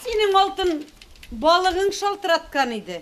Синең алтын балыгың шалтыраткан иде.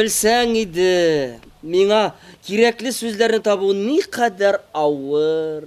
Белсәң иде, миңа кирәкле сүзләрне табу никадәр авыр.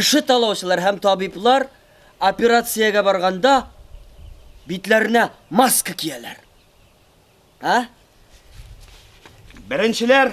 кеше талаучылар һәм табиблар операциягә барганда битләренә маска кияләр. А? Беренчеләр